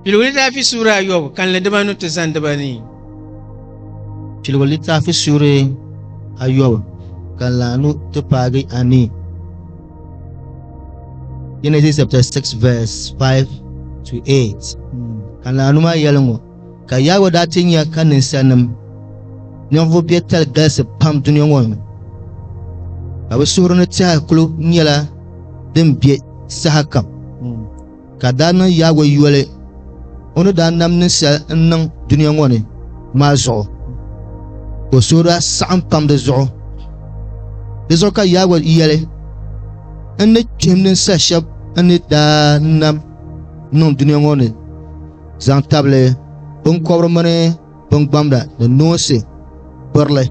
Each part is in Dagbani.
Piligu litaafi suuri ayɔbu kanli dibanu ti zani dibanii. Piligu litaafi suuri ayɔbu kanli anu ti paagi anii. Genesis chapter 6 verse 5 to 8 kanli anu maa yɛli ŋɔ ka Yawɛ daa ti nya ka ninsalinim ninvuɣ biɛtali galisi pam dunia ŋɔ ni ka bɛ suhuri ni tɛha kul nyɛla din be sahakam. ka daa niŋ Yawɛ yoli o ni daa nam ninsal n-niŋ dunia ŋɔ ni maa zuɣu. O suhu daa saɣim pam di zuɣu. Di zuɣu ka Yawɛ yɛli, N ni kpihim ninsal shɛb n ni daa nam niŋ dunia ŋɔ ni zaŋ tabili biŋkɔbiri mini bingbamda ni noonsi birili,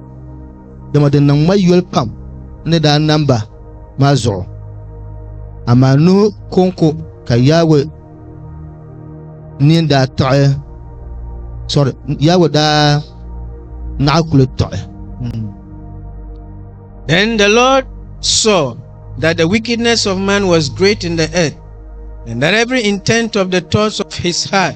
dama di niŋ ma yoli pam ni daa nam ba maa zuɣu. Amaa Nuhu kɔŋko ka Yawɛ nini daa tiɣi, sorry, Yawɛ daa naɣi kuli tiɣi. Hmm. Then the Lord saw that the wickedness of man was great in the earth, and that every intent of the thoughts of his heart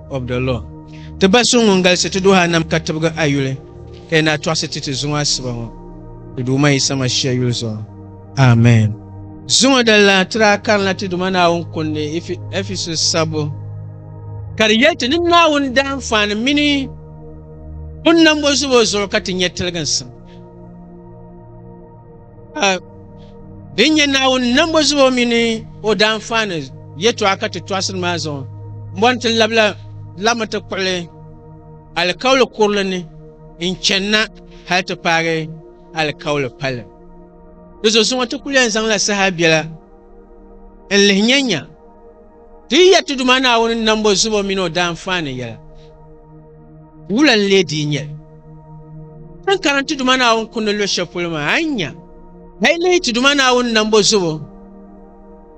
of the law. Ti Ba so ŋun galisi ti duhi anam ka tibigi a yuli, ka yi naa tɔɣisi ti ti zuŋɔ asiba ŋɔ, ti Duuma Yisa Mashia yuli zuɣu. Amen. Zuŋɔ din lahi tiri a karinla ti Duuma Naawuni kundi Ɛfesus sabbu, ka di yɛli ti ni Naawuni daanfaani mini o nambɔzubo zuɣu ka ti nya tiliginsim. din nyɛ naawuni nambo zubo mini o daanfaani yɛtɔɣa ka ti tɔɣasiri maa zuɣu bɔni ti labila labimi ti kpuɣili alikauli kurili ni n channa hali ti paagi alikauli pali di zuɣu zuŋɔ ti kuli yɛn zaŋla saha biɛla n lihi nyanya Ti yi ya ti Duuma Naawuni nambo zubo mini o daanfaani yɛla, wula n-lee dii nyɛ li? Ti ni karim ti Duuma Naawuni kundi luɣ shɛli polo maa, a ni nya a yi lihi ti Duuma Naawuni nambo zubo,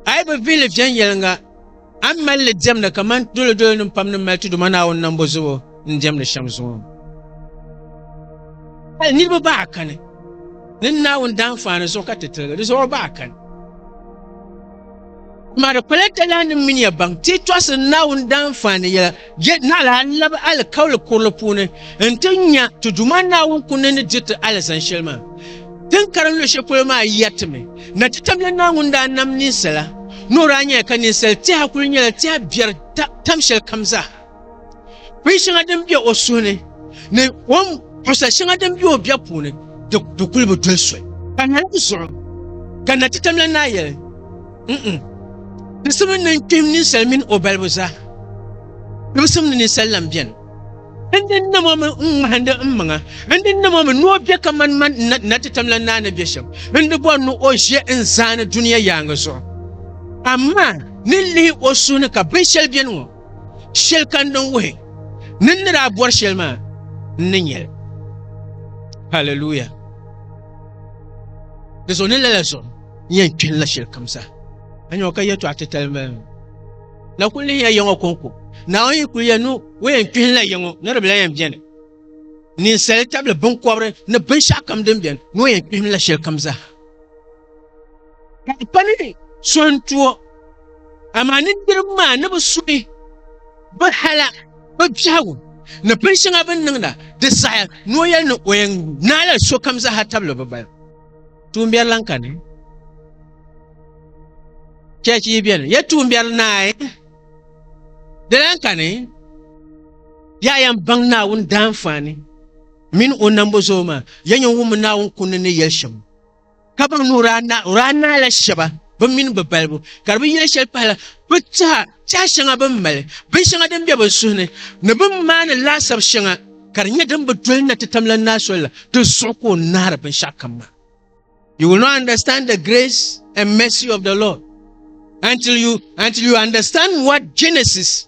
a yi bi vihi li viɛnyɛliŋga, a ni mali li diɛmda kaman doliodolinim pam ni mali ti Duuma Naawuni nambo zubo n-diɛmdi shɛm zuŋɔ. Hal niriba bahi kani ni Naawuni daanfaani zuɣu ka ti tiligi di zuɣu bahi kani. Kuma di kpala talanim mini ya baŋ ti tɔɣisi Naawuni daanfaani yɛla, je naɣila a ni labi alikauli kurili puuni nti nya ti Duuma Naawuni kum ni ni dir ti alizani shɛli maa. Din karim luɣ shɛli polo maa yɛritimi na ti tamya Naawuni daa nam ninsala ni o daa nyɛla ka ninsal tiha kuli nyɛla tiha biɛri tam shɛlikam zaa. Bin shɛŋa din be o suhu ni ni o ni pusa shɛŋa din be o bia puuni di kuli bi doli soli. Ka na di zuɣu ka na ti tamla naa yɛli, N-n, tisim ni ni kpihim ninsal mini o balibu zaa, tibisim ni ninsal lan beni. N di nam o mi n-ŋmahindi n maŋa, n di nam o mi ni o be kaman man n na ti tamla naa ni be shɛm, n di bɔri ni o ʒe n zaani dunia yaaŋa zuɣu. Amaa ni lihi o suhu ni ka binshɛli beni ŋɔ. shɛli ka n niŋ wuhi ni n ni daa bɔri shɛli maa n ni nyɛli haleluya di zuɣu ni lala zuɣu n yɛn kpini la shɛli kam zaa a nyɛŋɔ ka yɛtɔɣa titali n bala na kuli nihiya yɛŋɔ kɔŋko naawuni yi kuli yɛn ni o yɛn kpini la yɛŋɔ ni di bila yɛn bɛni ninsali tabili binkɔbiri ni binshɛɣu kam din bɛni ni o yɛn kpihim la shɛli kam zaa ka di pa ni so n tu o amaa ni niriba maa ni bi suhi bi hala bi biɛhigu ni bin shɛŋa bin niŋda di saha ni o yɛli ni o yɛn naala sokam zaaha tabili bi balibu tuumbiɛri lan kani chɛch yi bɛni ya tuumbiɛri naai di lan kani ya yɛn baŋ naawuni daanfaani mini o nambo zuɣu maa ya yɛn wummi naawuni kunni ni yɛli shɛm ka baŋ ni o daa naai la shɛba bɛ mini bɛ balibu ka di bi yɛli shɛli pahila bɛ tɛha tɛha shɛŋa bɛ ni mali binshɛŋa din be bɛ suhi ni ni bɛ ni maani laasabu shɛŋa ka di nyɛ din bi doli na ti tam la naa soli la di zuɣu ka o naari binshɛɣu kam maa you will not understand the grace and mercy of the lord until you until you understand what genesis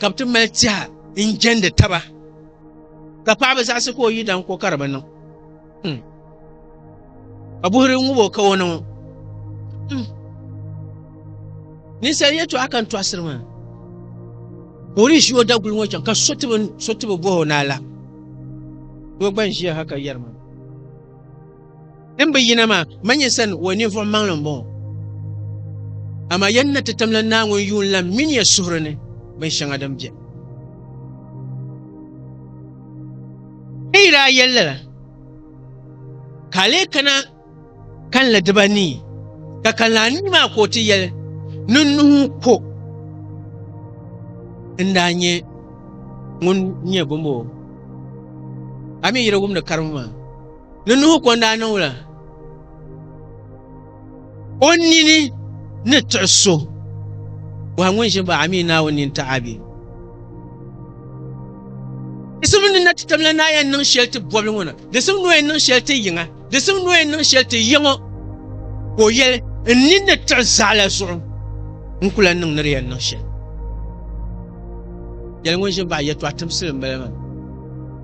ka bɛ ti mali tɛha n-jɛndi taba, ka paɣiba zaɣisi ka o yi daŋ ko ka di bi niŋ. Hmm. Ka buhiri ŋubo ka o niŋ. Hmm. Ninsal yɛtɔɣa ka n tɔɣisiri maa. Ka o ni ʒi o daguli ŋɔ chaŋ ka so ti bi bɔh o ni a la. Doo gba n-ʒiya ha ka yɛri ma. Din bi yina maa, manyin sani o ninvuɣ maŋli m-bɔŋɔ. Amaa ya ni na ti tamla Naawuni yuun lan min ya suhuri ni binshɛŋa din beni. Ka yi daa yɛli lala, ka a lee kana kalinli dibanii, ka kalinli anii maa ka o ti yɛli, Ni nuhi ko n daa nyɛ ŋun nyɛ bɔmbɔŋɔ, a mi yi di wumdi karibu maa. Ni Nuhu kon daa niŋ la, o nini ni tiɣi so, bɔha ŋun ʒin baɣa mi Naawuni nini taɣi a bee? Di simdi ni na ti tamla ni a yɛn niŋ shɛli ti bɔbili ŋɔ na, di simdi ni o yɛn niŋ shɛli ti yiŋa, di simdi ni o yɛn niŋ shɛli ti ya ŋɔ, ka o yɛli, N nini ni tiɣi zaɣila zuɣu, n ku lan niŋ ni di yɛn niŋ shɛli. Yɛli ŋun ʒin baɣa yɛtɔɣa timsili m-bala maa.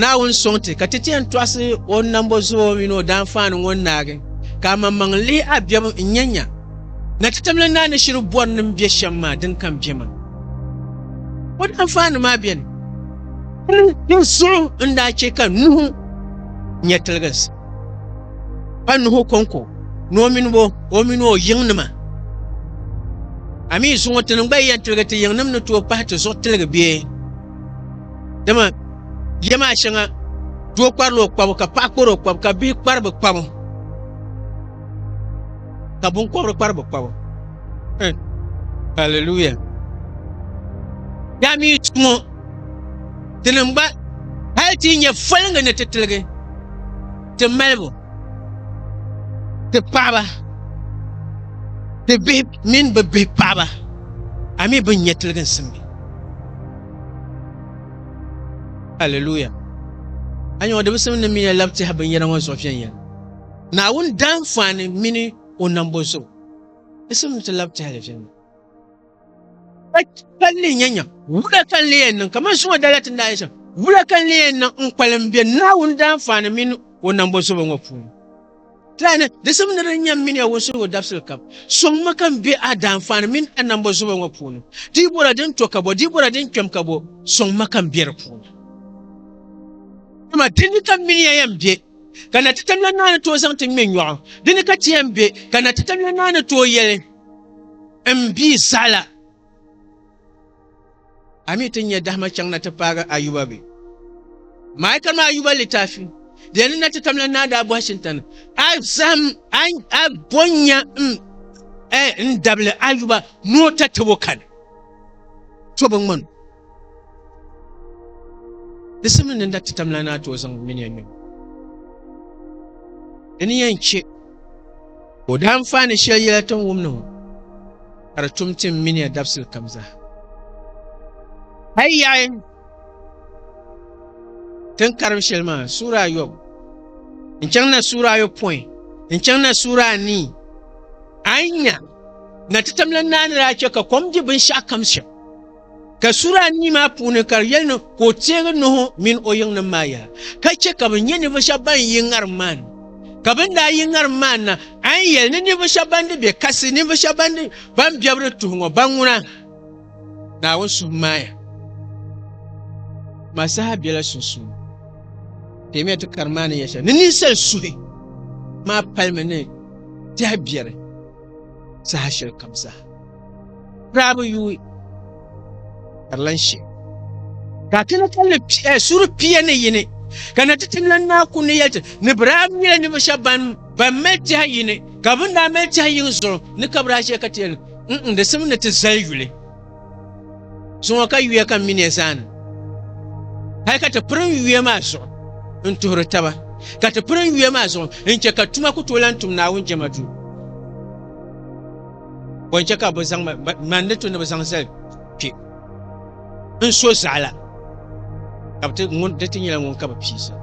Naawuni sɔŋ ti ka ti ti yɛn tɔɣisi o ni nambo zuo mini o daanfaani ŋɔ naagi, ka a maŋmaŋ lihi a biɛbu n-nya nya na ti tamla naa ni shiri bɔri ni m-be shɛm maa din kam bɛ ma o daanfaani maa bɛni. Di zuɣu n daa chɛ ka Nuhu nya tiliginsi, pa Nuhu kɔŋko ni o mini o o mini o yiŋnima. A mi zuŋɔ ti ni gba yi yɛn tiligi ti yiŋnim ni tooi pahi ti zuɣu tiligi bee? dama ya maa shɛŋa doo kparila o kpabu ka paɣa kpari o kpabu ka bihi kpari bi kpabu ka binkɔbiri kpari bi kpabu Eh, hallelujah yaa mi tumo dini n gba hali ti nyɛ folingi ni ti tiligi ti malibu ti paɣaba ti bihi mini bi bihi paɣaba a mi bin nyɛ tiligi n simdi Hallelujah. A nyɛ o dibisim ni miya lab tihi binyɛra ŋɔ zuɣu viɛnyɛla. Naawuni dahin faani mini o nambo zuɣu. Disim ti lab tihili viɛnyɛla. Ka li nyɛ nyam, wula ka n lee yɛn niŋ? Kaman zuŋɔ dala ti ni daa yɛli shɛm, wula ka n lee yɛn niŋ n-kpalim be Naawuni dahin faani mini o nambo zuɣu ŋɔ puuni? Tani, di simi ni di nyam mini ya wunsuhigu dabisili kam, sɔŋmi ka m be a daanfaani mini a nambo zubo ŋɔ puuni. Di yi bɔra din to ka bɔ, di yi bɔra din kpɛm ka bɔ, sɔŋma ka m be di puuni. Dama di ni ka m mini ya yɛn be, ka na ti tamila naa ni tooi zaŋ ti ŋme nyɔɣu, di ni ka ti yɛn be, ka na ti tamila naa ni tooi yɛli, M bia zaɣila. A mi ti nya dahima chaŋ na ti paagi Ayuba bɛ? Maika ni Ayuba litafi di yɛn ni na ti tam la naa daa bɔhi Shintani, a zahim a bo nya n-dabili Ayuba ni o ta tabo kani. To bi ŋmani o. Di simdi ni n na ti tam la naa ti o zaŋ mini ya nyom. Di ni yɛn che o dahinfaa ni shɛli yɛla tin wum ni ŋɔ. ka di tum ti n mini ya dabisili kam zaa. A yi yaɣi tin karim shɛli maa suura ayɔbu n-chaŋ na suura ayɔpɔin n-chaŋ na suura anii, a ni nya na titam la naanila a chɛ ka kom di binshɛɣu kam shɛm. Ka sura anii maa puuni ka di yɛli ni ka o teegi Nuhu mini o yiŋnim maa yaha, ka chɛ ka bɛ nya ninvuɣ shɛb bɛn yi ŋarim maa ni. Ka bɛ ni daa yi ŋarim maa ni na, a ni yɛli ni ninvuɣ shɛb bɛn di bɛ kasi, ninvuɣ shɛb bɛn di bɛn bɛbi di tuhi ŋɔ, ba ŋuna Naawuni suhu maaya maa saha bela sunsuuni. Kpɛmiya ti kari maa ni yɛli shɛli ni ninsal suhi maa palimi ni tɛha biɛri. saha shɛli kam zaa daa bi yuui ka di lan she ka a kana kalinli eh, suri pia ni yini ka na ti tim lan naa ku ni yɛli ni bi daa nyɛla ninvuɣ shɛba ban ban mali tɛha yini ka bin daa mali tɛha yini zuɣu ni ka bi daa ʒiya ka ti yɛli n di simi ni ti zali yuli Zuŋɔ ka yuya kam mi ne zaani. Hali ka ti pirim yuya maa zuɣu n-tuhiri taba, ka ti pirim yuya maa zuɣu n-chɛ ka tuma ku tooi lan tum Naawuni jɛma duu. Bɔ n-chɛ ka bɛ zaŋ ma, man ni to ni bɛ zaŋ zali kpe n-so zaɣa la, ka bɛ ti ŋun di ti nyɛla ŋun ka bɛ pii zali.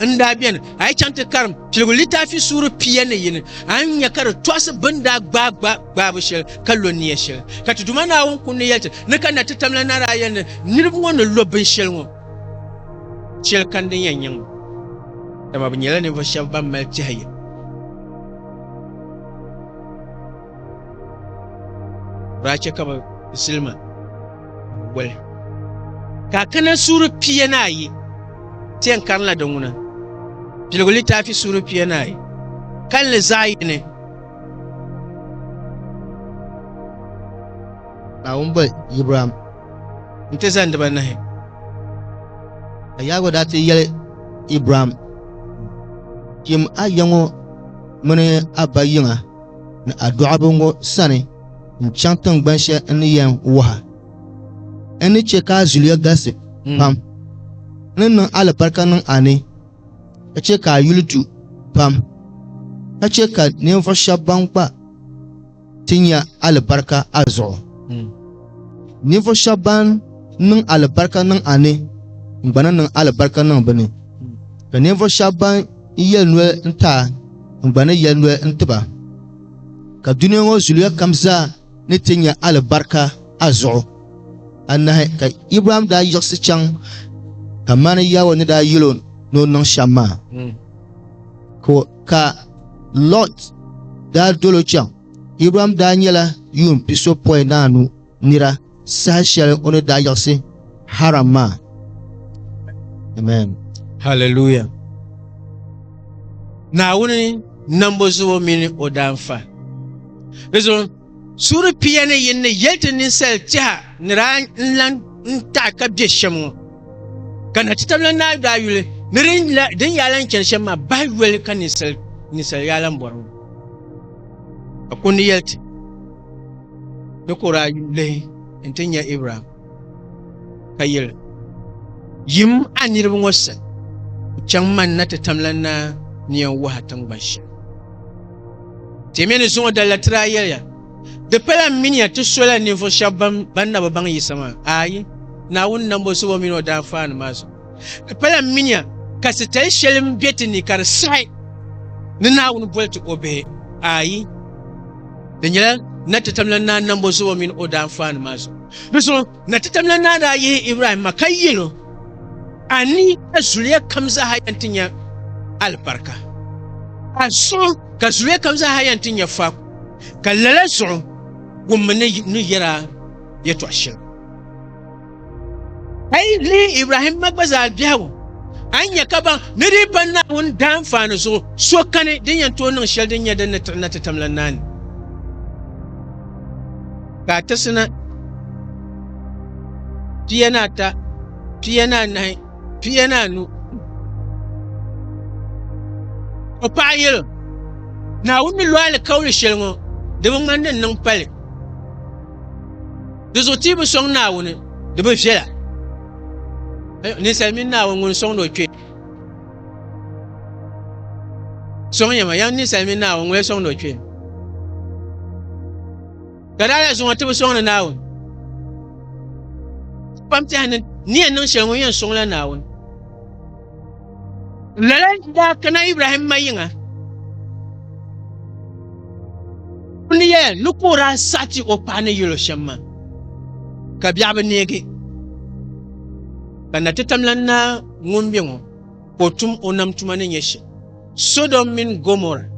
n daa beni a yi chaŋ ti karim piligu litaafi suuri pia ni yini a ni nya ka di tɔɣisi bɛ ni daa gbaai gba gbaabu shɛli ka lo nia shɛli ka ti Duuma Naawuni kundi yɛli ti ni ka na ti tamla naraaya ni niriba ŋɔ ni lo binshɛli ŋɔ shɛli ka din yɛn nyaŋ ba dama bɛ nyɛla ninvuɣ shɛba ban mali tɛhiya daa chɛ ka bɛ zilima goli. Ka kana suuri pia ni ayi tɛn karinla di ŋuna, Piligu litaafi suuri pia ni ayi, kalinli zaɣ yini. Naawuni boli Ibrahim nti zani dibaanahi. Ka Yawɛ daa ti yɛli Ibrahim, Yim a ya ŋɔ mini a ba yiŋa ni a dɔɣiba ŋɔ sani. n-chaŋ tiŋgbani shɛli n ni yɛn wahi a. N ni chɛ ka a zuliya galisi pam. N ni niŋ alibarika niŋ a ni, ka chɛ ka a yuli du pam, ka chɛ ka ninvuɣ shɛba ban gba ti nya alibarika a zuɣu. Ninvuɣ shɛba ban niŋ alibarika niŋ a ni, n gba ni niŋ alibarika niŋ bɛ ni, ka ninvuɣ shɛba ban yɛli noli n-ti a, n gba ni yɛli noli n-ti ba. Ka dunia ŋɔ zuliya kam zaa ni ti nya alibarika a zuɣu. Anahi ka Ibrahim daa yiɣisi chaŋ kamani Yawɛ ni daa yel o ni o niŋ shɛm maa. Hmm. Ka Lɔt daa dol o chaŋ. Ibrahim daa nyɛla yuun pisopɔinaanu. nira saha shɛli o ni daa yiɣisi haram maa amen hallelujah naawuni nambo zubo mini o daanfa di zuɣu suuri pia ni yin ni yɛli ti ninsal tiɛha ni daa n lan n taɣi ka bɛ shɛm ŋɔ ka na ti tabila naa daa yuli ni din yaa lan chɛni shɛm maa bahi yoli ka ninsal yaa lan bɔri ŋɔ ka kundi yɛli ti Di kor a yuli lihi nti nya Ibrahim, ka yeli, Yim a niriba ŋɔ sani, n-chaŋ man na ti tamla n naa ni yɛn wahi a tiŋgban shɛli. Timiya ni zuŋɔ dali la tiri a yɛliya, Di pala m mini ya ti sola ninvuɣ shɛb bɛn na bi baŋ Yisa maa, aai, Naawuni nambo zuɣu o min o daafaani maa zuɣu. Di pala minia ka sitali shɛli n be ti ni ka di saɣi ni Naawuni boli ti o bihi? Aai! Di nyɛla na ti tamla naa nambo zuɣu mini o daanfaanima zuɣu. Di zuɣu na ti tamla naa daa yihi Ibrahim ma ka yel o, A ni a zuliya kam zaaha yɛn ti nya alibarika. A zuɣu ka zuliya kam zaaha yɛn ti nya faaku, ka lala zuɣu wummi ni ni yɛr a yɛtɔɣ shɛli. A yi lihi Ibrahim ma gba zaa biɛhigu, a nya ka baŋ ni di pa Naawuni daanfaani zuɣu so kani din yɛn tooi niŋ shɛli din nyɛ din ni tiɣi na ti tam la naani. Ka a tirisi na pia ni ata, pia ni anahi, pia ni anu. O paɣa yɛl, Naawuni ni lo alikauli shɛli ŋɔ, di bi ŋmani din niŋ pali. Di zuɣu ti bi sɔŋ Naawuni, di bi viɛla. Ninsal mini Naawuni ŋun sɔŋdi o kpee. Sɔŋya ma, yɛm ninsal mini Naawuni ŋun sɔŋdi o kpee. Ka daa la zuŋɔ ti bi sɔŋdi Naawuni. Kpam tɛha ni ni yɛn niŋ shɛli ŋun yɛn sɔŋla Naawuni. Lala daa kana Ibrahim ma yiŋa. Ni yɛya ni ka o daa saɣi ti o paɣa ni yɛl o shɛm maa, ka biɛɣu bi neegi. Ka na ti tamla naa ŋun be ŋɔ ka o tum o nam tuma ni nyɛ shɛm. Sodom mini Gomorrah.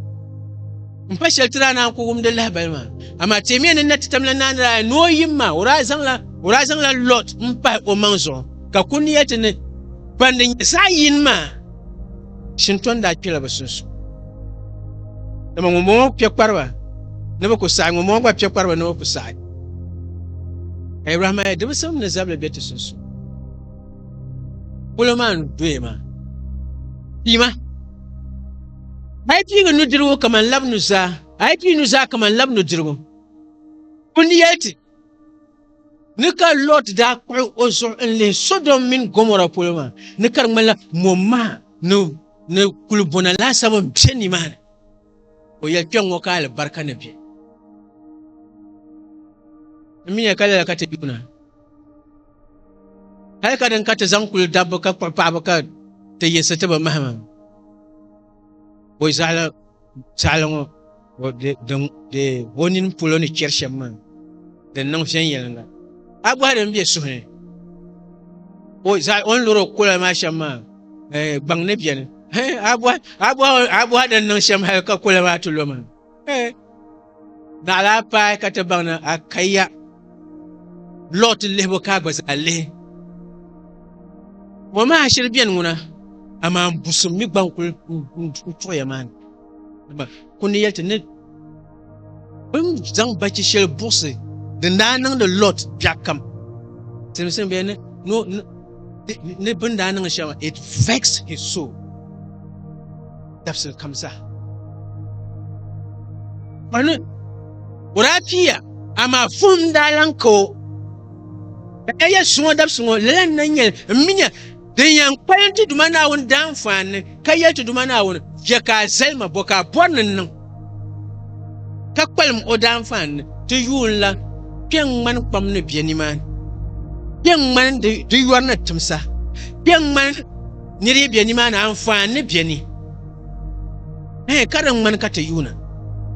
N pa shɛli ti daa naan ku wumdi lahibali maa. Amaa teemiya ni na ti tam la naa ni daa ni o yim maa, o daa zaŋla o daa zaŋla Lot n pahi o maŋ zuɣu ka ku ni yɛli ti ni ban di nyɛ zaɣ yini maa shintɔn daa kpela bi sunsuuni. Dama ŋunbɔŋɔ kpe kpariba ni bi ku saɣi ŋunbɔŋɔ gba kpe kpariba ni bi ku saɣi. Ka Ibrahimaya dibisim ni zabili be ti sunsuuni. Polo maa n doya maa piima a yi piigi nudirigu kamani labi nuzaa a yi piigi nuzaa kamani labi nudirigu ku ni yɛli ti ni ka lot daa kpuɣi o zuɣu n lihi sodom mini gomora polo maa ni ka di ŋmanila mo maha ni ni kuli bona laasabu n bɛ nimaani o yɛli kpɛŋ ŋɔ ka alibarika ni bɛ n mi nya ka lala ka ti yuuna Hali ka din ka ti zaŋ kuli dabba ka kpuɣi paɣaba ka ti yiɣisi ti bi mahima. Boi zaɣala saɣala ŋɔ de o nini polo ni chɛri shɛm maa din niŋ viɛnyɛlinga. A bɔhi din be suhu ni. O ni lɔri o kola maa shɛm maa gbaŋ ni beni. A bɔhi din niŋ shɛm hali ka kola maa ti lo maa. Eh, naɣila a paai ka ti baŋ ni a kaya Lɔt lihibu ka a gba zaa lihi. Ŋɔ maa shiri beni ŋuna, amaa n busim mi gba n-kul n-tuɣiya maa ni. Dama ku ni yɛli ti ni bɛn zaŋ bachi shɛli buɣisi din daa niŋdi Lɔt biɛɣukam, siliminsili bɛn ni ni bin daa niŋ shɛŋa it vex his soul dabisili kam zaa kpani o daa piiya amaa vuhim daa lan ka o ka ka yɛli suŋɔ dabisiŋɔ lala n na nyɛli n mi nya din yɛn kpalim ti Duuma Naawuni daanfaani ka yɛli ti Duuma Naawuni, Chɛ ka a zali ma bɔ ka a bɔri ni n niŋ, ka kpalim o daanfaan ni ti yuun lan kpe n-ŋmani kpam ni bɛ nimaani, kpe n-ŋmani di yɔri ni tim sa, kpe n-ŋmani ni di yi be nimaani anfaan ni bɛ ni? Ɛɛh, ka di ŋmani ka ti yuuna,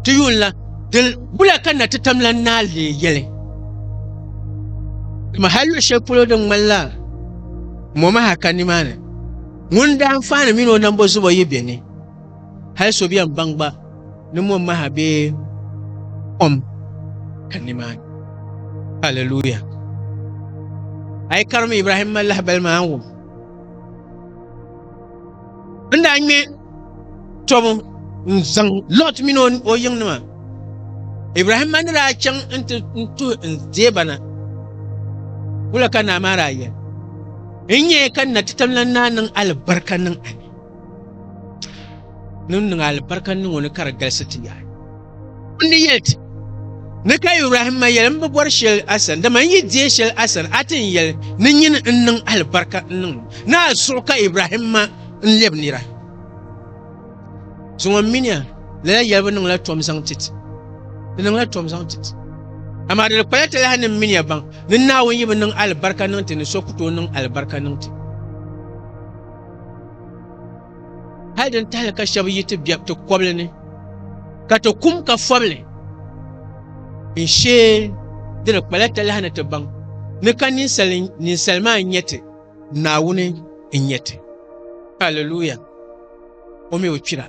ti yuun lan dil wula ka na ti tam lan naai leei yɛli? Dama hal luɣ shɛli polo din ŋmanila mɔmaha ka nimaani. Ŋun daa faani mini o nambo zubo yi bɛ ni, hal so bɛn baŋ gba ni mom maha bee kom ka nimaani. Haleluya! A yi karim Ibrahim ma lahibali maa n-wum, N daa ŋme tɔbu n-zaŋ Lɔt mini o yiŋnima. Ibrahim ma ni daa chaŋ nti tuhi n deeba na, wula ka naa maa daa yɛli? N nyɛ ka n na ti tam lan naa niŋ alibarika niŋ a ni. Ni n niŋ alibarika niŋ o ni ka di galisi ti yaai. N ni yɛli ti ni ka Ibrahim ma yɛli n bi bɔri shɛli a sani, dama n yi deei shɛli a sani, a ti ni yɛli ni nyini n niŋ alibarika n niŋ li. Ni a zuɣu ka Ibrahim ma n lɛbi nira. Zuŋɔ m-minia, lala yɛlibu niŋla tom zaŋ ti ti. Di niŋla tom zaŋ ti ti. Amaa di di kpala ti lahi ni m-minia baŋ ni Naawuni yi bi niŋ alibarika niŋ ti ni so ku tooi niŋ alibarika niŋ ti. Hal din tahili ka shɛba yi ti be ti kɔbili ni ka ti kum ka fɔbili n-shee di di kpala ti lahi ni ti baŋ ni ka ninsal maa n-nyɛ ti, Naawuni n-nyɛ ti. Hallelujah! o mi o kpira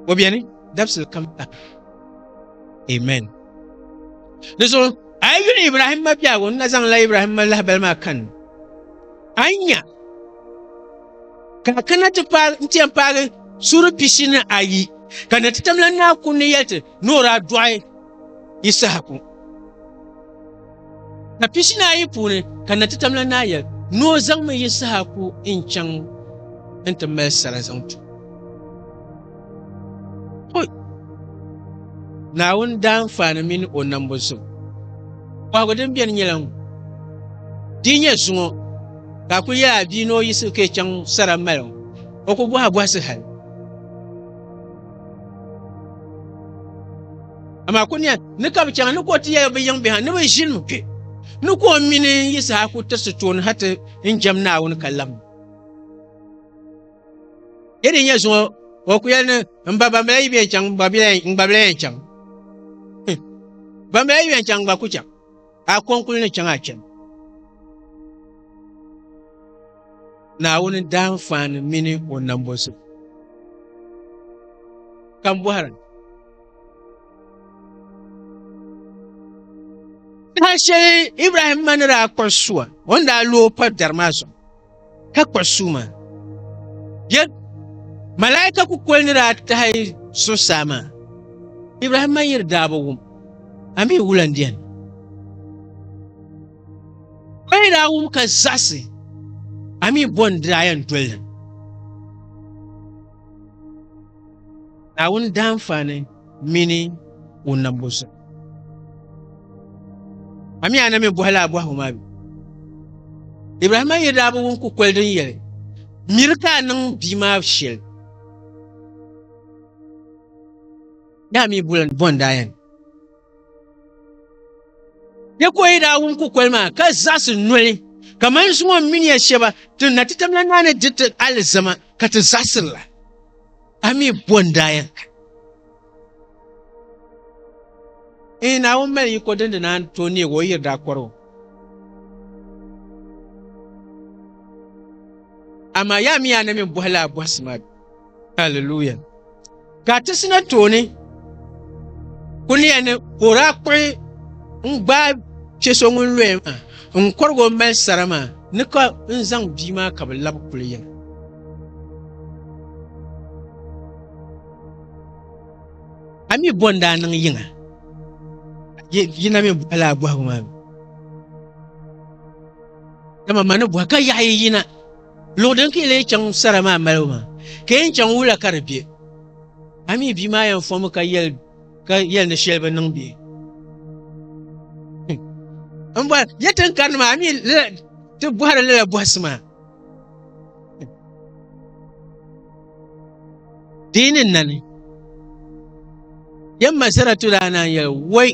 o beni dabisili kam ta amen di zuɣu a yi yuli ibrahim ma biɛhigu n na zaŋla ibrahim ma lahabali maa kan a yi nya ka a kana ti paagi n ti yɛn paagi suuri pishi ni ayi ka na ti tamla naa kunni yɛli ti ni o daa dɔɣi Yisahaku. Ka pishina ayi puuni ka natitamla naa yɛli ni o zaŋmi Yisahaku n-chaŋ nti mali sara zaŋ tu. Hoi! Naawuni daanfaani mini o nambu zubu kɔhigu din beni nyɛla ŋun, di yi nyɛ zuŋɔ ka a kuli yaai a bia ni o yiɣisi ka yi chaŋ sara mali ŋɔ, o ku bɔhi a bɔhisi hal. amaa kuniya ni ka bi chaŋ ni ka o ti yɛli bi yiŋ biha ni bi ʒini mi kpɛ ni ka o mini n yi saha ku tirisi tooni ha ti n jɛm naawuni ka lam yɛ din nyɛ zuŋɔ o ku yɛli ni n ba bambila yi bɛn chaŋ n gba bila yɛn chaŋ bambila yi bɛn chaŋ n gba ku chaŋ Ka a kɔŋ kuli ni chaŋ a chani. Naawuni daanfaani mini o nambɔzim. Ka m bɔhira. Saha shɛli Ibrahimma ni daa kpuɣi sua, o ni daa lo o pa dari maa zuɣu. ka kpuɣi sua maa. Bɛ malaika kukoli ni daa tahi zuɣusaa maa, Ibrahim ma yiri daa bi wum, amii wula n-beni. O yi daa wum ka zaɣisi, amii bɔ n-daa yɛn doli li. Naawuni daanfaani mini o nambu zuɣu. A mi a na mi bɔhi la a bɔhigu maa bɛ? Ibrahima yi daa bi wum kukoli din yɛli, Miri ka a niŋ bia maa shɛli, daa mi buɣili ni bɔndaa yɛn. Tekoyi daa wum kukoli maa ka zaɣisi noli kamani zuŋɔ mini ya shɛba ti na ti tamla naa ni di ti alizama ka ti zaɣisirila. A mi bɔ n-daa yɛn ka? Eeh, Naawuni mali yiko din di naan tooi neeg o yiri daa kɔr o. Amaa yaa mi yaa na mi bɔhi la a bɔhisi maa bɛ? Hallelujah. Ka ti sina tooni ku ni yɛn ni ka o daa kpuɣi n gbaai chɛ so ŋun loya maa n kɔrig o mali sara maa ni ka n zaŋ bia maa ka bi labi kuli yɛm. A mi bɔ n daa niŋ yiŋa yina mi bɔhila a bɔhigu maa mi. Dama ma ni bɔhi ka yaɣi yina Luɣ din ka yi lee chaŋ sara maa malibu maa, ka yɛn chaŋ wula ka di be? A mi bia maa yɛn fɔŋmi ka yɛli ni shɛli bi niŋ bee? M bɔra, ya tin karini maa, a mi lala ti bɔhiri lala bɔhisi maa? Dii ni nani yɛn ma saratu daa naan yɛli woi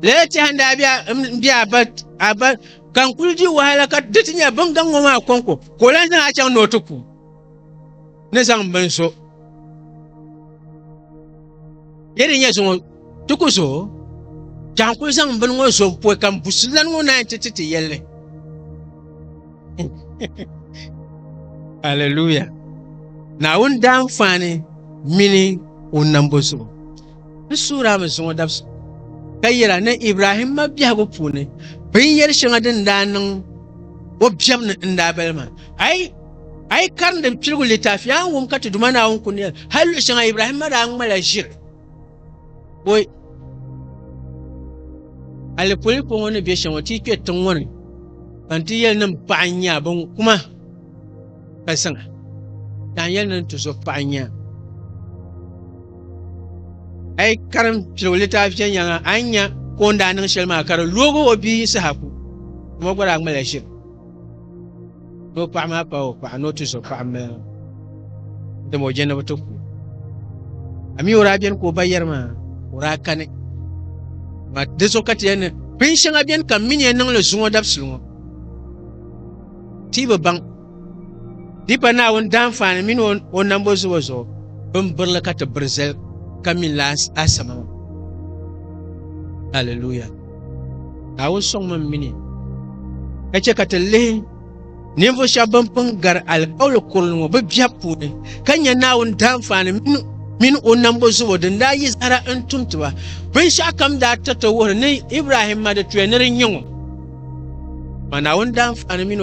lala tɛha n daa bɛ a- n bɛ a ba a ba ka n kuli di wahala ka di ti nyɛ bin gaŋ ŋɔ maa kɔŋko ka o lan zaŋ a chaŋ ni o ti ku ni zaŋ bin so yɛ di nyɛ zuŋɔ Di ku zo, ka n kuli zaŋ bini ŋɔ zo m poi ka m busi lan ŋɔ naai nti ti ti yɛlli. Aleluya! Naawuni daanfaani mini o nambo zuɣu, n suhirami zuŋɔ dabisi ka yɛra ni Ibrahim mabiɛhigu puuni binyɛr shɛŋa din daa niŋ o biɛm ni n daa bali maa. A yi a yi karindi piligu litaafi, a ni wum ka ti Duuma Naawuni kul ni yɛli hal luɣ shɛŋa Ibrahimma daa ŋmala ʒiri. Boi alipolipo ŋɔ ni bɛ shɛŋa ti kpɛ tiŋ ŋɔ ni ka n ti yɛli nim paɣa n nyɛ bin kuma ka zaŋa ka n yɛli nim ti zo paɣa n nyɛ a yi karim piligu litaafi shɛli nyɛŋa a ni nyɛ ka o ni daa niŋ shɛli maa ka di loogi o bia saha ku ŋɔ gba daa ŋmalila ʒiri Ni o paɣa maa pa o paɣa ni o ti zo paɣa m-mali o, dama o je ni bɛ ti ku o. A mi o daa beni ka o ba yɛri ma, o daa kani ma. Di zuɣu ka ti yɛli ni bin shɛŋa beni ka m mi ni yɛn niŋ li zuŋɔ dabisili ŋɔ, ti bi baŋ. Di pa Naawuni daanfaani mini o nambo zubu zuɣu bin birili ka ti biri zali ka mi n-lahi a sama maa. Aliluya! Naawuni sɔŋmi m-mini ka chɛ ka ti lihi ninvuɣ shɛba bɛn pun gari alikauli kurili ŋɔ bɛ biɛbu puuni ka nya Naawuni daanfaani mini o nambo zubu din daa yi zahara n-tum ti ba. Binshɛɣu kam daa tiriti wuhiri ni Ibrahim ma di tuya ni di nyɛ ŋɔ, amaa Naawuni daanfaani mini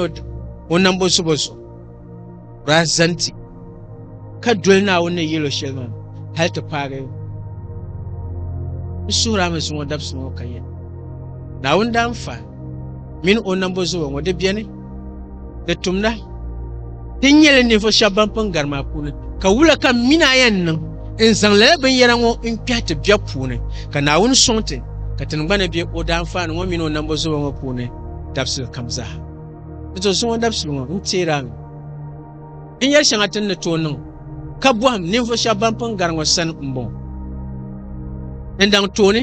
o nambo zubu zuɣu. Daa zani ti, ka doli Naawuni ni yɛl o shɛli maa hal ti paagi n suhuri a mi zuŋɔ dabsi ŋɔ ka yɛli, Naawuni daa n fa min o nambo zuba ŋɔ di beni, di tumda ti nyɛ li ninvuɣ shɛb ban pun gari maa puuni, ka wula ka m min a yɛn niŋ n zaŋ lala binyɛra ŋɔ n-kpɛhi ti biɛb puuni, ka Naawuni sɔŋ ti ka tiŋgbani be o daanfaani ŋɔ min o nambo zuba ŋɔ puuni dabisili kam zaa? Di to zuŋɔ dabisili ŋɔ n teeri a mi. N yɛli shɛŋa ti ni tooi niŋ ka bɔhim ninvuɣ shɛba ban pun gari ŋɔ sani m-bɔŋɔ. N daŋ tooni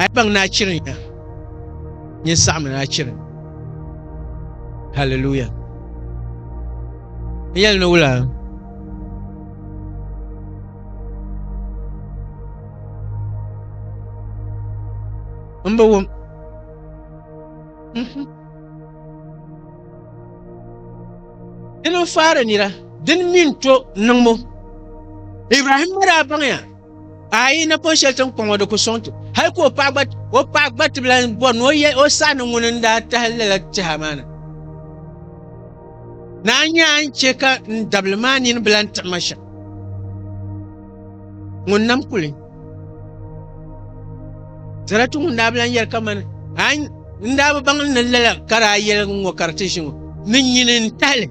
a yi baŋ ni a chiri nya, nyin saɣimi ni a chiri ni. Hallelujah! N yɛli ni wula? M bi wum. Dini n faari nira, dini mi n to niŋbu. Ibrahim ma daa baŋya ayi napɔŋ shɛli tin kpaŋɔ di ku sɔŋ ti hali ka o paɣa gba o paɣa gba tibila n bɔri ni o yɛ o saha ni ŋuni n daa tahi lala tɛha maa na. Naa nyɛ a ni chɛ ka n dabili maa nini bila n tiɣi ma shɛm. Ŋun nam kuli. Sarati ŋun daa bi lan yɛli kamani a n daa bi baŋ ni lala ka daa yɛligi ŋɔ ka di ti ʒi ŋɔ ni nyini n tahili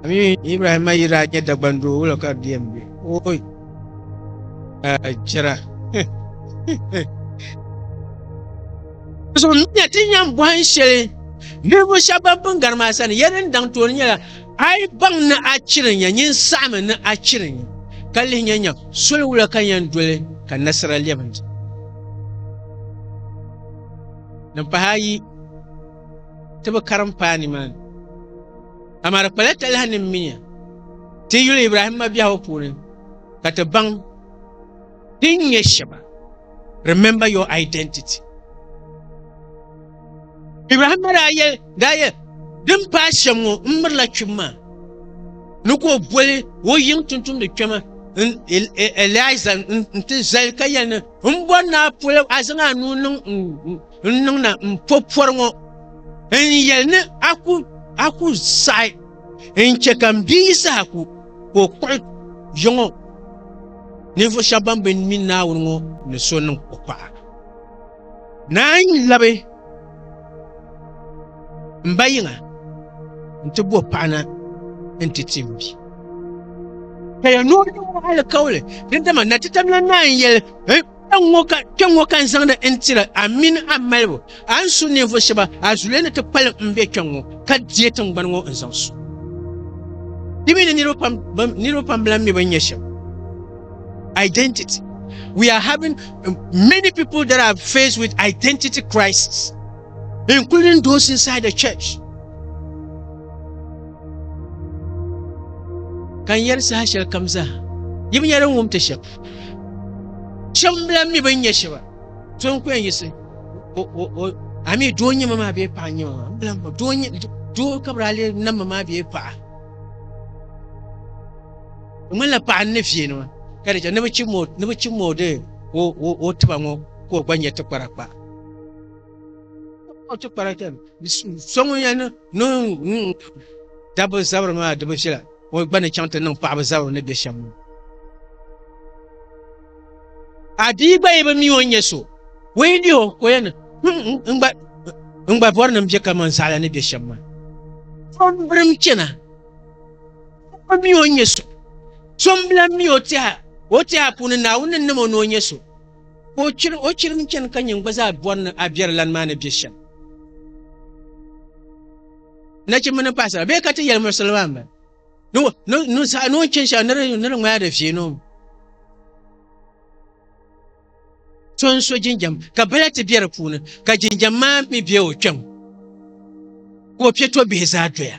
ami ibrahima yi daa nyɛ dagban doo wula ka di yɛn be oi chɛra so miya ti yɛn bɔhin shɛli ninvuɣ shɛba ban pun gari maa sani ya din daŋ tooni nyɛla A yi baŋ ni a chiri nya, nyin saɣimi ni a chiri nya, ka lihi nya nya soli wula ka yɛn doli ka nasira lɛbi n-di. Din pahi a yi ti bi karim paai nimaani. Amaa di kpala talahi ni m mi nya ti yuli Ibrahim mabiɛhigu puuni ka ti baŋ din nyɛ shɛba. Remember your identity. Ibrahim daa yɛli daa yɛ din paai shɛm ŋɔ n mirila kpib maa ni ka o boli o yiŋ tuntumdi kpɛma Eliza n ti zali ka yɛli ni n bɔri ni a poli a zaŋ a nuu niŋ n niŋna n po pɔri ŋɔ n yɛli ni a ku saɣi n chɛ ka m bia Yisahaku ka o kpuɣi yiŋɔ ninvuɣ shɛba ban bi mi Naawuni ŋɔ ni so niŋ o paɣa. Naa n labi n ba yiŋa nti bo paɣina nti ti m bi. Ka ya noo niŋ o alikauli, dindama Natitamilan Naa n yeli, Kpeŋŋo ka n zaŋdi n tiri a mini a malibu, a ni su ninvuɣ shɛba a zuliya ni ti kpalim m be kpeŋŋo ka deei tiŋgbani ŋɔ n zaŋ su. Di mi ni niriba pam bilan mi bini nyɛ shɛm. Identity We are having many people that are faced with identity crisis, including those inside the church. Kan yɛri saha shɛli kam zaa yi bi nyɛla ŋum ti shɛb shɛb n bila mi bin nyɛ shɛba so n kuyɛn yisi ami doo nyɛ ma maa bee paɣa nyɛ ma maa n bila ma doo ka bi daa lee nam ma maa bee paɣa Di ŋmanila paɣa n-ni viini ŋɔ ka di chɛ ni bɛ chim ma o di o tiba ŋɔ ka o gba nyɛ tikpara kpa. So ŋun yɛn niŋ dabba zabiri maa di bi viɛla o gba ni chaŋ ti niŋ paɣaba zabiri ni be shɛm ŋɔ. A bia gba yi bi mi o nyɛ so, o yi lihi o ka o yɛn ni n gba bɔri ni m be kaman zaɣila ni be shɛm maa. So m-birim chana O mi o nyɛ so. So n bilan mi o tɛha o tɛha puuni Naawuni ni nam o ni o nyɛ so. Ka o chiri o chiri n chani ka nyin gba zaa bɔri ni a biɛri lan maa ni bɛ shɛm. Nachimba ni paɣasara bee ka ti yɛli muɣisili maa mba ni o ni ni saɣa ni o ni chani shɛli ni di ni di ŋmaya di viɛ ni o mi. So n so jinjam ka bala ti bɛ di puuni ka jinjam maa mi bɛ o kpɛm ka o piɛ to bihi zaa doya.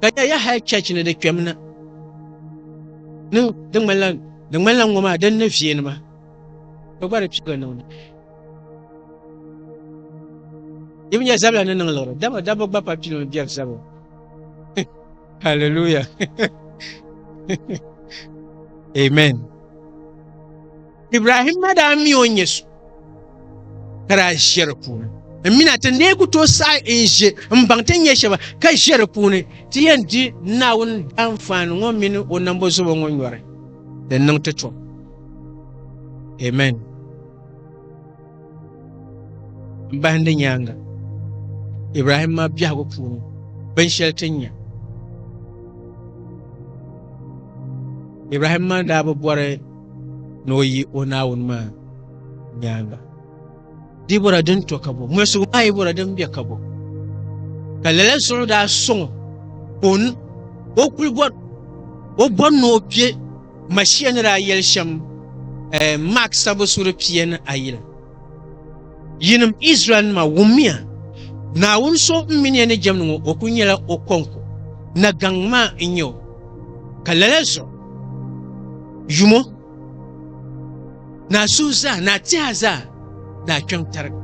ka nya ya hal chɛchi ni di kpɛm na niŋ di ŋmanila di ŋmanila ŋɔ maa din ni viɛ nima ka gba di piɛga niŋda yi bi nya zabila ni niŋ liɣiri dama dabba gba pa pilim biɛri zabiri hallelujah amen Ibrahim ma daa mi o nyɛ so ka daa ʒe di puuni n mina ti nee ku tooi saɣi n ʒe n baŋ ti nyɛ shɛba ka ʒe di puuni ti yɛn di Naawuni daanfaani ŋɔ mini o nambo zubo ŋɔ nyɔri din niŋ ti tom. Amen. M bahindi nyaaŋa Ibrahim maa biɛhigu puuni binshɛli ti nya. Ibrahim maa daa bi bɔri ni o yi o Naawuni maa nyaaŋa. Di bɔra din to ka bɔ, mɔlisigu maa yi bɔra din be ka bɔ. Ka lala zuɣu daa sɔŋ o, o kuli bɔri, o bɔri ni o kpe Mashia ni daa yɛli shɛm eh, Mak sabu suri pia ni ayi la. Yinim Izraɛlnima, wummiya! Naawuni so m mini ya ni jɛmdi ŋɔ, o kul nyɛla o kɔŋko, nagaŋ maa n-nyɛ o, ka lala zuɣu yumo. Naa suhu zaa, naa tɛha zaa daa kpiɔŋ tarigi.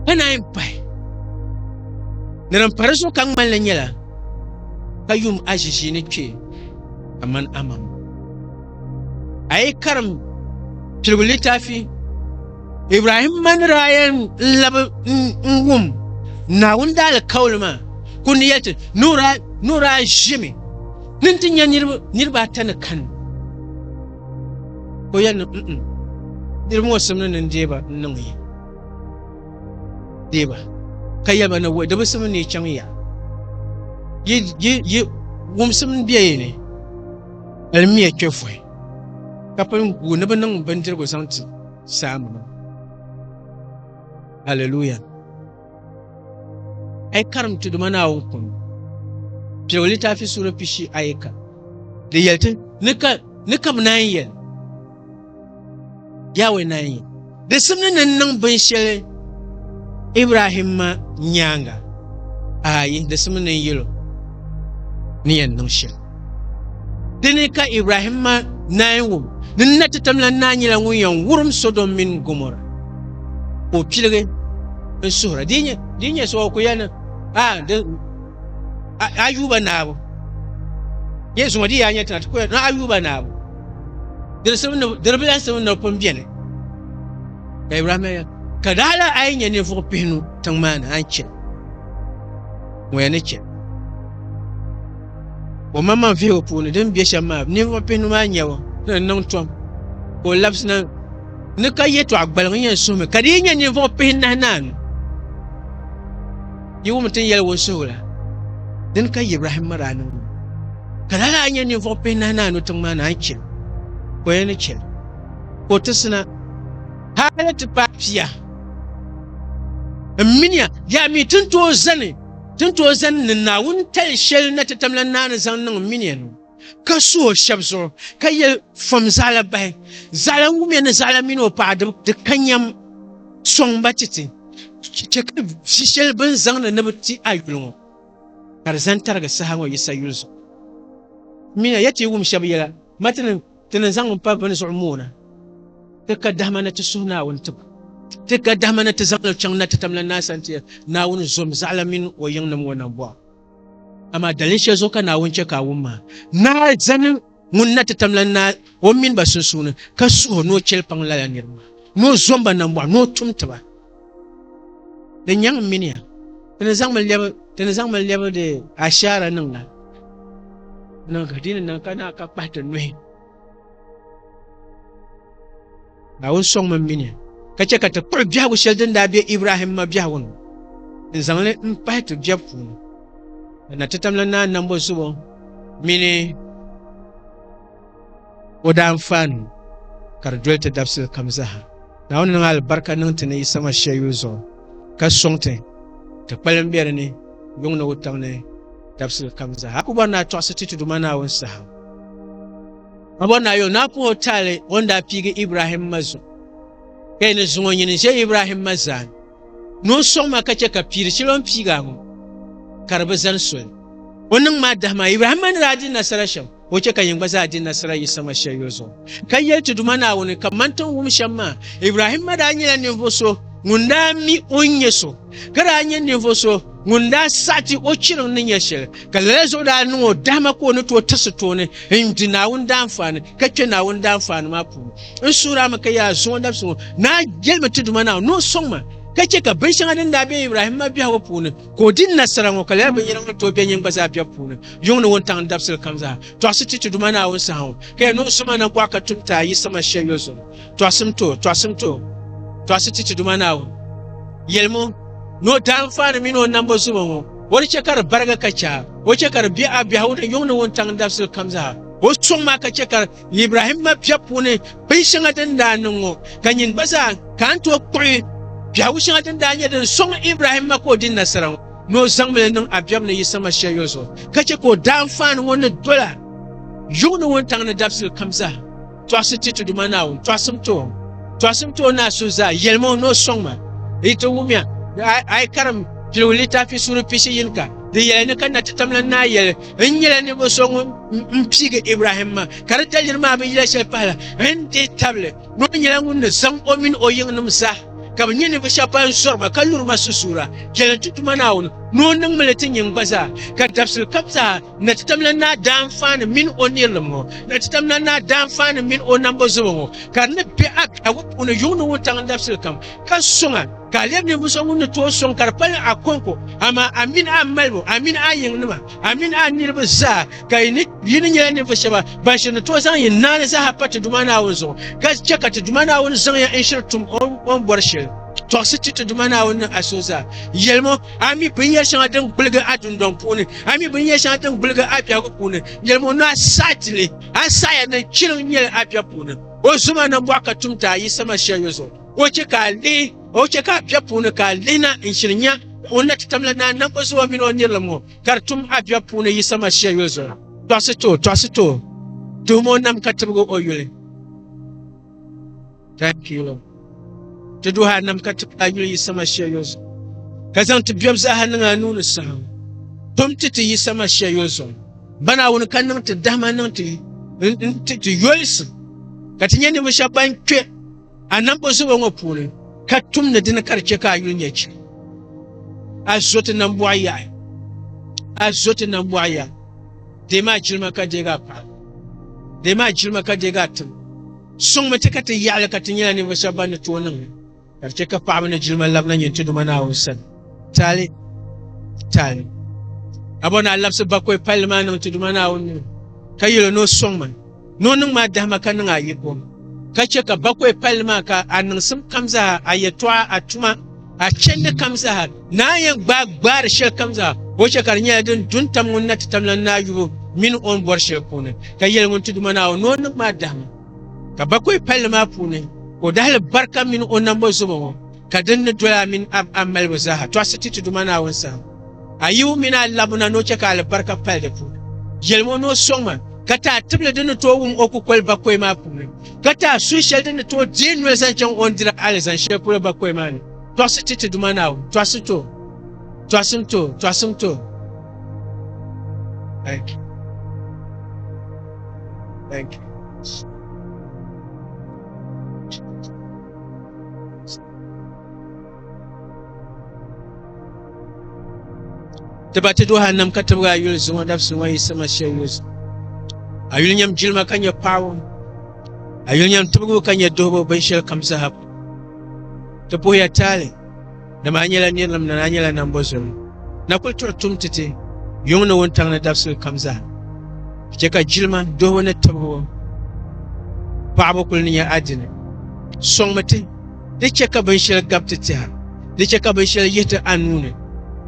Ka naan yi pahi ni din pa di zuɣu ka ŋmalli nyɛla ka yum aʒiʒiini kpe kaman amam. A yi karim piligu litaafi Ibrahim mani daa yɛn labi n-wum Naawuni daalikauli maa kul ni yɛli ti ni o daa ʒimi ni nti nya niriba ata ni kani. Ko yɛli ni niriba ŋɔ simni ni deei ba n-niŋ yi deei ba ka yɛli ba ni wɔ di bi simni ni yi chaŋ ya yi wumsim n bɛ yi ni alimiya kpe vuhi ka pun gu ni bi niŋ bindirigu zaŋ ti saanima hallelujah Ai karim Tuduma Naawuni kum piɛgu litaafi suura pishi ayi ka di yɛli ti ni ka ni ka bi naan yɛli Yawɛ naan yɛli di simdi ni n niŋ binshɛli Ibrahim ma nyaanga ayi di simdi ni n yɛl o ni yɛn niŋ shɛli Dini ka Ibrahim ma naai wum ni n na ti tamla n naa nyɛla ŋun yɛn wurim Sodom mini Gomora ka o piligi n suhira. Di yi nyɛ so, o ku yɛli ni, A, di, a, Ayuba Naawbu, yɛn zuŋɔ di yi yaa nyɛ tiŋa, ti ku yɛli ni, Ayuba Naawbu, diribilansi mi ni bi pun beni. Ka Ibrahim yɛli, Ka di hali a yi nyɛ ninvuɣ pihinu tiŋ maa ni, a ni chɛ li. Ŋɔ ya ni chɛ li. O maŋmaŋ vihigu puuni din be shɛm maa ninvuɣ pihinu maa nyɛbu ni di niŋ tom ka o labisi na ni ka yɛtɔɣ gbaliŋ yɛn suhimi ka di yi nyɛ ninvuɣ pihinahi naanu yi wumi tin yɛli wunsuhigu la dini ka Ibrahim ma daa niŋ ka laa daa nyɛ ninvuɣ pihinahi naanu tiŋ maa ni a ni chɛ ka o yɛn ni chɛ ka o tisina hali ti paai pia n miniya yaa mi tin tooi zani Ti ni tooi zani ni Naawuni tali shɛli na ti tamla naani zaŋ niŋ minia ni ka su o shɛb zuɣu, ka yɛli, Fom zaɣila bahi, zaɣila n wumiya ni zaɣila mini o paɣa di ka nyam, sɔŋ ba ti ti, chɛ ka vi shɛli bɛ ni zaŋdi ni bɛ ti a yuli ŋɔ, ka di zani tarigi saha ŋɔ Yisa yuli zuɣu. Minia, ya ti yi wum shɛb yɛla, Matinin! Ti ni zaŋ m pa bini zuɣu moona, ti ka dahima ni ti suhi Naawuni tibu. Ti ka dahima ni ti zaŋ li chaŋ na ti tamla naasa ti Naawuni zom zaɣila mini o yiŋnim ŋɔ nam bɔɣu. Amaa dalin shɛli zuɣu ka Naawuni chɛ ka a wum maa? Naa zani ŋun na ti tamla naa o mini ba sunsuuni ka suhi o ni o chɛlikpaŋ lala niriba maa, ni o zom ba nambɔɣu ni o tum ti ba. di nyaŋ n miniya ti ni zaŋmi lɛbi ti ni zaŋmi lɛbi di ashaara niŋ la niŋ ka di ni niŋ ka naa ka kpahi ti nuhi ka o sɔŋmi n miniya ka chɛ ka ti kpuɣi biɛhigu shɛli din daa be ibrahim ma biɛhigu ni n zaŋli n kpahi ti biɛb puuni ka na ti tamla naa nambo zubo mini O daa n faai nuu ka di doli ti dabisili kam zaa. Naawuni niŋ alibarika niŋ ti ni yi sama shɛli yuli zuɣu ka sɔŋ ti ti kpalim be di ni yuŋ ni wutaŋ ni dabisili kam zaa. A ku bɔri ni a tɔɣisi ti ti Duuma Naawuni saha. A bɔri ni a yo ni a puhi o taali o ni daa piigi Ibrahimma zuɣu, ka yi ni zuŋ o nyini ʒe Ibrahimma zaani. Ni o sɔŋ ma ka chɛ ka piiri shɛli o ni piigi a ŋɔ, ka di bi zani soli. O niŋ maa dahi maa, Ibrahimma ni daa di nasara shɛm, o chɛ ka yin gba zaa di nasara yi saŋa shɛli yo zuɣu, ka yɛli ti Duuma Naawuni, Ka man ti ni wum shɛm maa, Ibrahimma daa nyɛla ninvuɣ so ŋun daa mi o ni nyɛ so, ka daa nyɛ ninvuɣ so ŋun daa saɣi ti o chiriŋ ni nyɛ shɛli, ka lala zuɣu daa niŋ o dahima ka o ni tooi tirisi tooni n-di Naawuni daanfaani, ka kpe Naawuni daanfaani maa puuni. n suhirami ka yaa zuŋɔ dabisiŋɔ naa jɛlimi ti duma naa ni o sɔŋ ma ka chɛ ka binshɛŋa din daa be Ibrahim ma biɛhigu puuni ka o di nasara ŋɔ ka lala binyɛra ŋɔ tooi be nyin gba zaa biɛbu puuni yuŋ ni wuntaŋ ni dabisili kam zaa tɔɣisi ti ti duma naa wun saha ŋɔ ka ya ni o zoma na gɔɣa ka tum ti a yi sama shɛl yo zuŋ tɔɣisim to tɔɣisim to tɔɣisi ti ti duma naa wun yɛlimo ni o daanfaani mini o nambo zoma ŋɔ o di chɛ ka di barigi ka chɛ a o chɛ ka di be a biɛhigu ni yuŋ ni wuntaŋ ni dabisili kam zaa o sɔŋ maa ka chɛ ka Ibrahim ma biɛɣu puuni binshɛŋa din daa niŋ ŋɔ ka nyin gba zaa ka n tooi kpuɣi biɛhigu shɛŋa din daa nyɛ din sɔŋ Ibrahim ma ka o di nasara ŋɔ ni o zaŋ mi li niŋ a biɛbu ni yi sama shɛli yo zuɣu ka chɛ ka o daanfaani ŋɔ ni dola yuŋ ni wuntaŋ ni dabisili kam zaa. Tɔɣisi ti ti Duuma Naawuni, tɔɣisim ti o, tɔɣisim ti o ni a so zaa, yɛlim o ni o sɔŋ ma. Yi ti wumya, a yi karim Piligu Litaafi suuri pishi yini ka, di yɛli ni ka Natitamla Naa yɛli, n nyɛla ninvuɣu so ŋun n piigi ibrahim ma ka di daliri maa bi yila shɛli pahala n deei tabili ni o nyɛla ŋun ni zaŋ o mini o yiŋnim zaa ka bi nyɛ ninvuɣu shɛba ban zɔri ma ka luri ma susuura chɛli n ti tuma naawuni ni o niŋmi li ti nyin gba zaa ka dabisili kam zaa na ti tamla naa daanfaani mini o nirilim ŋɔ na ti tamla naa daanfaani mini o nambo zubu ŋɔ ka di ni be a biɛhigu puuni yuŋni wuntaŋ dabisili kam Ka sɔŋ a, ka a lɛbi ninvuɣ so ŋun ni tooi sɔŋ ka di pali a kɔŋko, amaa a mini a malibu, a mini a yiŋnima, a mini a niriba zaa, ka yi ni yi ni nyɛla ninvuɣ shɛba ban shiri ni tooi zaŋ yi naani zaaha pa ti Duuma Naawuni zuɣu, ka chɛ ka ti Duuma Naawuni zaŋ ya n-shiri tum o ni bɔri shɛli. Tɔɣisi ti ti Duuma Naawuni ni a so zaa. Yɛlim o, a mi binyɛr shɛŋa din gbuligi a dundɔŋ puuni, a mi binyɛr shɛŋa din gbuligi a biɛhigu puuni. Yɛlim o ni a saɣi ti ni, a saɣiya ni chiliŋ nyɛli a biɛb puuni. O zom a nambɔɣu ka tum ti a yi sama shɛliyo zuɣu. O chɛ ka a lihi, o chɛ ka a biɛb puuni ka a lihina n-shili nya o ni na ti tam la Naa Nambɔzua mini o nirilim ŋɔ ka di tum a biɛb puuni Yisa Masia yuli zuɣu. Tɔɣisi ti o, tɔɣisi ti o, tuhim o nam ka tibigi o yuli. Thank you, Lord. Ti duhi a nam ka tibigi a yuli Yisa Masia yuli zuɣu, ka zaŋ ti biɛb zaaha niŋ a nuu ni saha ŋɔ. Tum ti ti Yisa Masia yuli zuɣu. Ba Naawuni ka niŋ ti dahima niŋ ti n-ti ti yolisi ka ti nya ninvuɣ shɛba ban kpe A nambo zubo ŋɔ puuni ka tumdi dini ka di chɛ ka a yuli nyɛ chim. A zo ti nambɔɣu yaɣi. A zo ti nambɔɣu yaɣi. Deemi a jilima ka deegi a paɣa. Deemi a jilima ka deegi a tim. Sɔŋmi ti ka ti yaɣili ka ti nyɛla ninvuɣ shɛba ban ni tooi niŋ li, ka di chɛ ka paɣaba ni jilima labina nyin ti Duuma Naawuni sani. Taali, taali. Abɔ naa labisi bakɔi palli maa niŋ ti Duuma Naawuni nuu, ka yɛl o ni o sɔŋ ma, Ni o niŋ ma dahima ka niŋ a yiko, ka chɛ ka bakɔi palli maa ka a niŋsim kam zaa, a yɛtɔɣa, a tuma, a chɛndi kam zaa, ni a yɛn gbaai gbaari shɛli kam zaa, o chɛ ka di nyɛla din du n-tam ŋun na ti tam lan naa yubu mini o ni bɔri shɛli puuni, ka yɛli ŋun ti Duuma Naawuni ni o niŋ ma dahima ka bakɔi palli maa puuni ka o dahili barika mini o nambo zobo ŋɔ. ka din ni doya mini a, a malibu zaaha tɔɣisi ti ti Duuma Naawuni sahim. A yibu mini a labu na ni o chɛ ka alibarika pali di puuni. Yɛlim o ni o sɔŋ ma, ka ti a tibili din ni tooi wum o kukoli bakɔi maa puuni, ka ti a suhu shɛli din ni tooi deei noli zaŋ chaŋ o ni diri alizani shɛli polo bakɔi maa ni. Tɔɣisi ti ti Duuma Naawuni, tɔɣisi ti o, tɔɣisim ti o, tɔɣisim ti o. Thank you. Thank you. ti ba ti jahannam ka tibigi a yuli zuŋɔ dabisi ŋɔ yiɣisima shɛli yuli zuɣu a yuli nyɛm jilima ka nyɛ paɣaba a yuli nyɛm tibigibu ka nyɛ duhibu binshɛli kam zaa ti puhiya taali Dama a nyɛla nirilim ni a nyɛla nambo zom. Na kuli tuɣi tum ti ti yuŋ ni wuntaŋ ni dabisili kam zaa. Che ka jilima, duhibu ni tibibu paɣibu kuli ni nyɛ a dini. Sɔŋmi ti, di che ka binshɛli gabi ti tɛha, di che ka binshɛli yihi ti a nuu ni.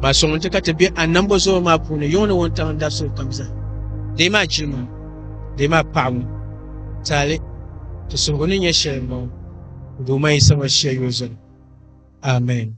Maa sɔŋmi ti ka ti be a nambo zoma maa puuni yuŋ ni wuntaŋ ni dabisili kam zaa. Dee maa jilima, dee maa paɣibu, taali ti suhigu ni nyɛ shɛli m-bɔŋɔ, Duuma Yisa Masia yuli zani. Amen.